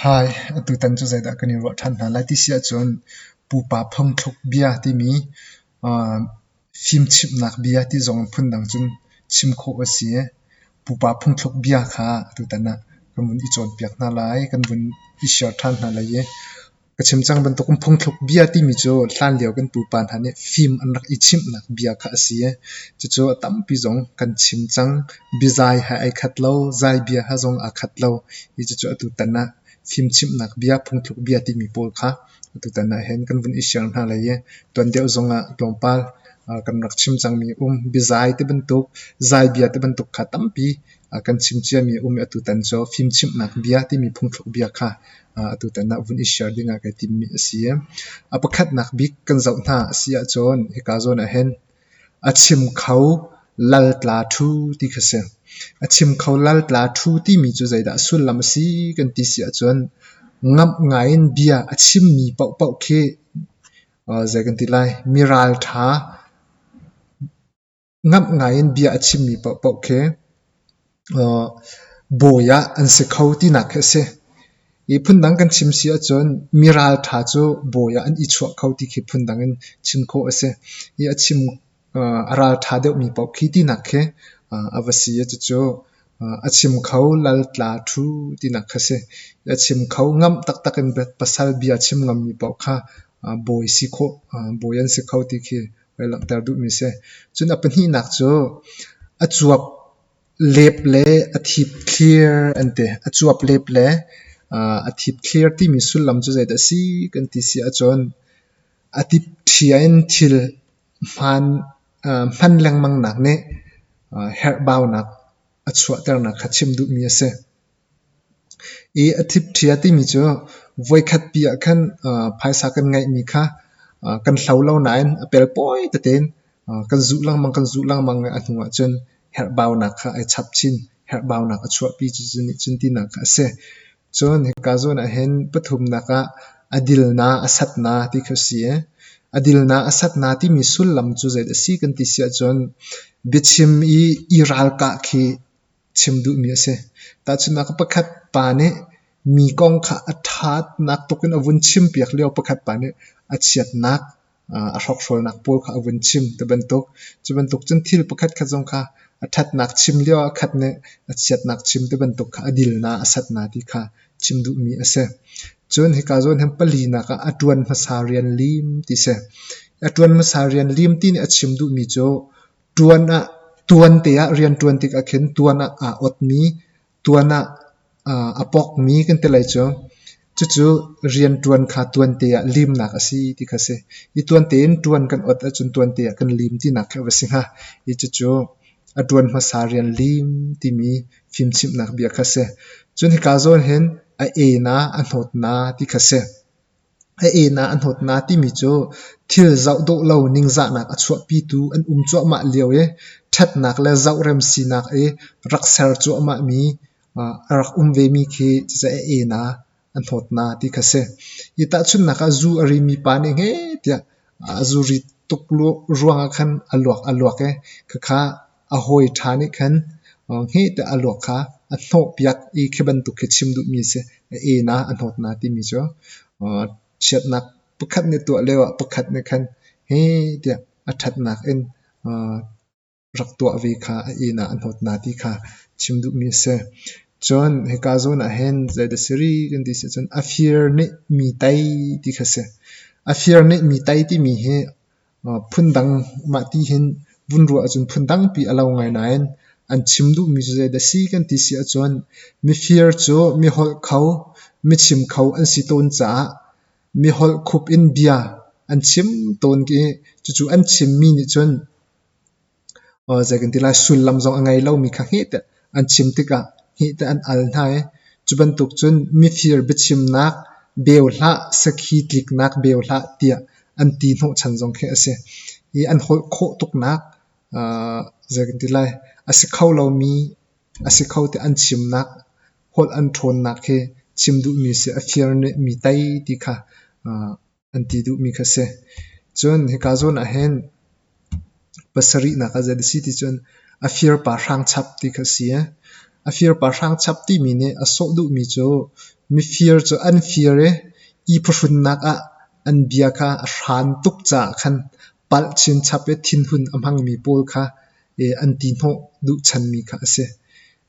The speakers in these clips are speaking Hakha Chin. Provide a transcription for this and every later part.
Hi, atutan cu zeidah kan i ruah ṭhan hna lai ti si ahcun pupa phungthluk bia timi aa fimchimhnak bia ti zong in phundang cun chim khawh a si. Pupa phungthluk bia kha atutan ah kan vun i cawnpiak hna lai, kan vun i share ṭhan hna lai i Ka chim cang bantuk um phungthluk bia timi cu hlan lio kan pupa hna nih fim an rak i chimhnak bia kha a si i cucu a tampi zong kan chim cang. Bizai he ai khat lo, zai bia he zong aa khat lo i cucu atu tan ah fimchimhnak bia, phungthluk bia timi pawl kha atu tan ah hin kan vun i share hna lai i tuan deuh zong ah tlawmpal kan rak chim cangmi um bizai ti bantuk, zai bia ti bantuk kha tampi A kan chim ciami a um i atutan cu fimchimhnak bia timi phungthluk bia kha atutan ah vun i share ding ah kai timmi a si. A pakhatnak bik kan zoh hna a si ahcun hika zawn ah hin a chim kho laltla ṭhu ti kha si. A chim kho laltla ṭhu timi cu zeidah sullam a si kan ti si ahcun ngamh ngaiin bia a chimmi paohpaoh khi zei kan ti lai miralṭha ngamh ngaiin bia a chimmi paohpaoh khi bawi ah an si kho tinak khi a si. I phundang kan chim si ahcun mi ralṭha cu bawi ah an i chuah kho ti khi phundang in chim khawh a si. I a chim a ralṭha deuhmi paoh khi tinak khi a va si a cucu a chim kho lal tla ṭhu tinak kha si. A chim kho ngamh taktak in pasal bia chim ngammi paoh kha bawi si khawh bawi an si kho ti khi Ka langhter duhmi si. Cun a pahnihnak cu a cuap lep le a thip thlir an ti. A cuap lep le a thip thlir timi sullam cu zeidah a si kan ti si ahcun a tip ṭhia in thil hmaan hman lengmangnak nih herhbaunak a chuahternak kha chim duhmi a si. I a thipṭhia timi cu voikhatpi ah khan phaisa kan ngeihmi kha kan hlo lo nain a pelpawi tetein kan zuh lengmang kan zuh lengmang i a hnu ahcun herhbaunak kha ai chap chin herhbaunak a chuahpi cucu nihcun tinak kha a si. Cun hika zawn ahhin pathumnak ah a dilnak a satnak ti kha a si i a dilnak a satnak timi sullam cu zeidah a si kan ti si ahcun biachim i i ralkah khi chim duhmi a si. Tahchunhnak pakhat pa nih mi kong kha a ṭhatnak tuk in a vun chimpiak lio pakhat pa nih a chiatnak a hrokhrawlnak pawl kha a vun chim ti bantuk. Cu bantuk cun thil pakhat khat zong kha a ṭhatnak chim lio ah khat nih a chiatnak chim ti bantuk kha a dilnak, a satna ti kha chim duhmi a si. Cun hika zawn hin palinak ah a ṭuan hmasa rian lim ti si. A ṭuan hmasa rian lim ti nih a chim duhmi cu tuan te ah riantuan tik ahkhin tuan ah aa awtmi tuan ah a pawkmi kan ti lai cu. Cucu riantuan kha tuan te ah limnak a si ti kha a si. Hi tuan tein tuan kan awt ahcun tuan te ah kan lim tinak khi a va si hnga. Hi cucu a tuan hmasa rian lim timi fimchimhnak bia kha a si. Cun hika zawn hin a ena, a hnawtna ti kha a si. A inn ah a hnawtnak timi cu thil zoh dawh lo ningzahnak a chuahpitu an um cuahmah lio i ṭhatnak le zohrem sinak i rak ser cuahmahmi a rak um vemi khi cucu a inn ah a hnawtnak ti kha a si. Hi tahchunhnak ah zu a rimi pa nih heh tiah a zuri tuk ruangah khan a luak a luak i khakha A hawi ṭha nih khan hngete a luak kha a hnawhpiak i khi bantuk khi chim duhmi a si. A enak a hnawtnak timi cu chiatnak pakhat nih a tuah lioah pakhat nih khan hi tiah a ṭhatnak in rak tuah ve kha a enak a hnawtnak ti kha chim duhmi a si. Cun hika zawn ah hin zei dah si rih kan ti si cun a fir nih mi tei ti kha a si. A fir nih mi tei timi hi Phundang mah ti hin vun ruah ahcun phun tampi a lo ngai nain an chim duhmi cu zeidah a si kan ti si ahcun mifir cu miholh kho, michim kho an si tawn caah miholh khup in bia an chim tawn i cucu an chimmi nih cun zei kan ti lai sullam zong a ngei lomi kha heh an chim tikah heh an al hna i cu bantuk cun mifir biachimnak beu hlah sakhi tliknak beu hlah tiah an ti hnawhchan zong khi a si i an holh khawh tuknak zei kan ti lai a si kho lomi a si kho tiah an chimnak holh an ṭhawnnak hi chim duhmi si a fir nih mi tei ti kha an ti duhmi kha a si. Cun hika zawn ah hin pasarihnak ah zeidah a si ti cun a firpa hrangchap ti kha a si. A firpa hrangchap timi nih a sawh duhmi cu mifir cu an fir i i phuhrunnak ah an bia kha a hran tuk caah khan palh chinchap i thinhun a hmangmi pawl kha an ti hnawh duhchanmi kha a si.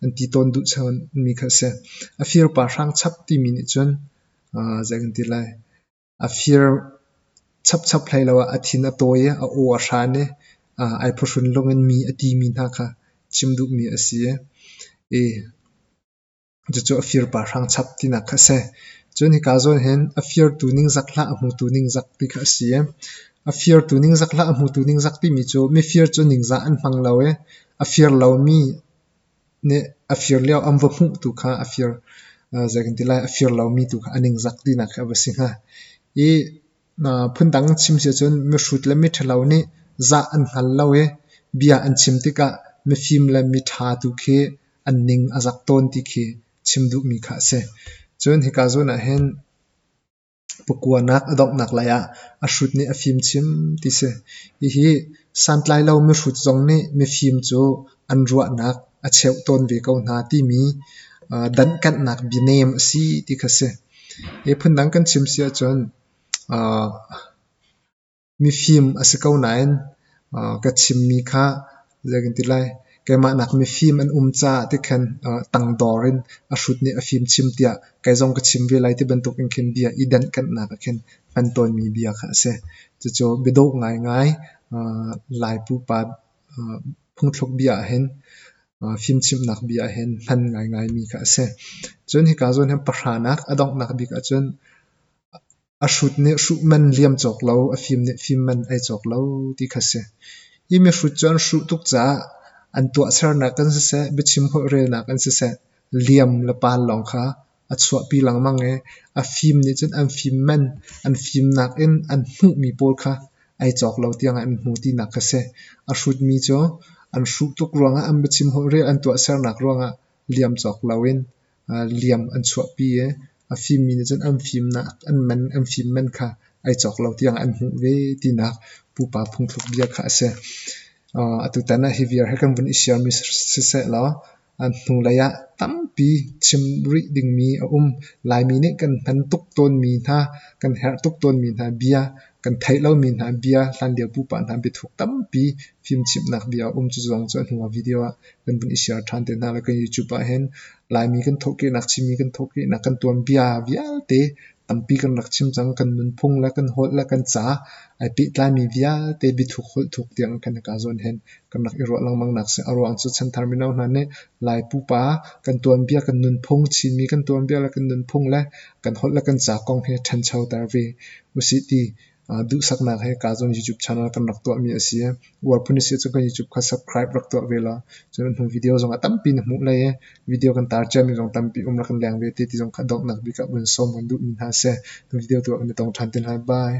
An ti tawn duhchanmi kha a si. A firpa hrangchap timi nih cun zei kan ti lai a fir chapchap hlei lo ah a thin a tawi i a aw a hran i ai phuhrun lung in mi a timi hna kha chim duhmi a si i cucu a firpa hrangchap tinak kha a si cun hika zawn hin a firtu ningzak hlah a hmutu ningzak ti kha a si i a firtu ningzak hlah a hmutu ningzak timi cu mifir cu ningzah an hmang lo i a fir lomi nih a fir lio an va hmuh tu kha a fir zei kan ti lai a fir lomi tu kha a ningzak tinak kha a va si hnga. I phundang chim si ahcun mihrut le miṭhalo nih zah an hngal lo i bia an chim tikah mifim le miṭha tu khi an ning a zak tawn ti khi chim duhmi kha a si. Cun hika zawn ah hin Pakuanak a donghnak lai ah a hrut nih a fim chim ti si. Hihi santlai lo mihrut zong nih mifim cu an ruahnak a cheuh tawn ve ko hna timi danhkanhnak bianem a si ti kha si. Hi phundang kan chim si ahcun, mifim a si ko nain ka chimmi kha zei kan ti lai keimah nak mifim an um caah ti khan tangdor in a hrut nih a fimchim tiah kei zong ka chim ve lai ti bantuk in khin bia i denhkanhnak ah khin hman tawnmi bia kha a si cucu biadawh ngaingai lai pupa phungthluk bia ah hin fimchimhnak bia ah hin hman ngaingaimi kha a si cun hika zawn hin pahra nak a donghnak bik ahcun a hrut nih hruh man liam cawk lo, a fim nih fim man ei cawk lo ti kha si. Hi mihrut cu an hruh tuk caah an tuahsernak in siseh, biachim holh relnak in siseh, liam le pal lawng kha a chuahpi lengmang i a fim nih cun an fim man, an fimnak in an hmuhmi pawl kha ei cawk lo tiangah an hmu tinak kha si. A hrutmi cu an hruh tuk ruangah, an biachim holh rel an tuahsernak ruangah liam cawk lo in liam an chuahpi i a fimmi nih cun an fimnak an man an fim man kha ai cawk lo tiang an hmuh ve tinak pupa phungthluk bia kha a si. Atutan ah hi viar hi kan vun i siarmi siseh law hnulei ah tampi chim rih dingmi a um. Laimi nih kan hman tuk tawnmi hna, kan herh tuk tawnmi hna bia Kan theih lomi hna bia, hlanlio pupa hna biathuk tampi fimchimhnak bia a um. Cuzuang cu a hnu ah video ah kan vun i share ṭhan te hna lai. Kan YouTube ah hin Laimi kan thawhkehnak, Chinmi kan thawhkehnak, kan tuanbia vialte tampi kan rak chim cang. Kan nunphung le kan holh le kan ca ai pehtlaimi vialte biathuk, holh thuk tiang kan i kaa zawn hen. kan rak i ruah lengmang nak si. A ruang cu chanthar mino hna nih Lai pupa kan tuanbia, kan nunphung, Chinmi kan tuanbia le kan nunphung le kan holh le kan ca kong hi ṭhancho ter ve usih ti duhsaknak he kaa zuam YouTube channel kan rak tuahmi a si. Uar phun a si ahcun kan YouTube kha subscribe rak tuah ve law cun hnu video zong a tampi na hmuh lai i video kan tar ciami zong tampi um rak kan leng ve te ti zong kha donghnak bik ah vun sawm kan duhmi hna seh. Hnu video tuah kan i tong ṭhan te lai. Bye.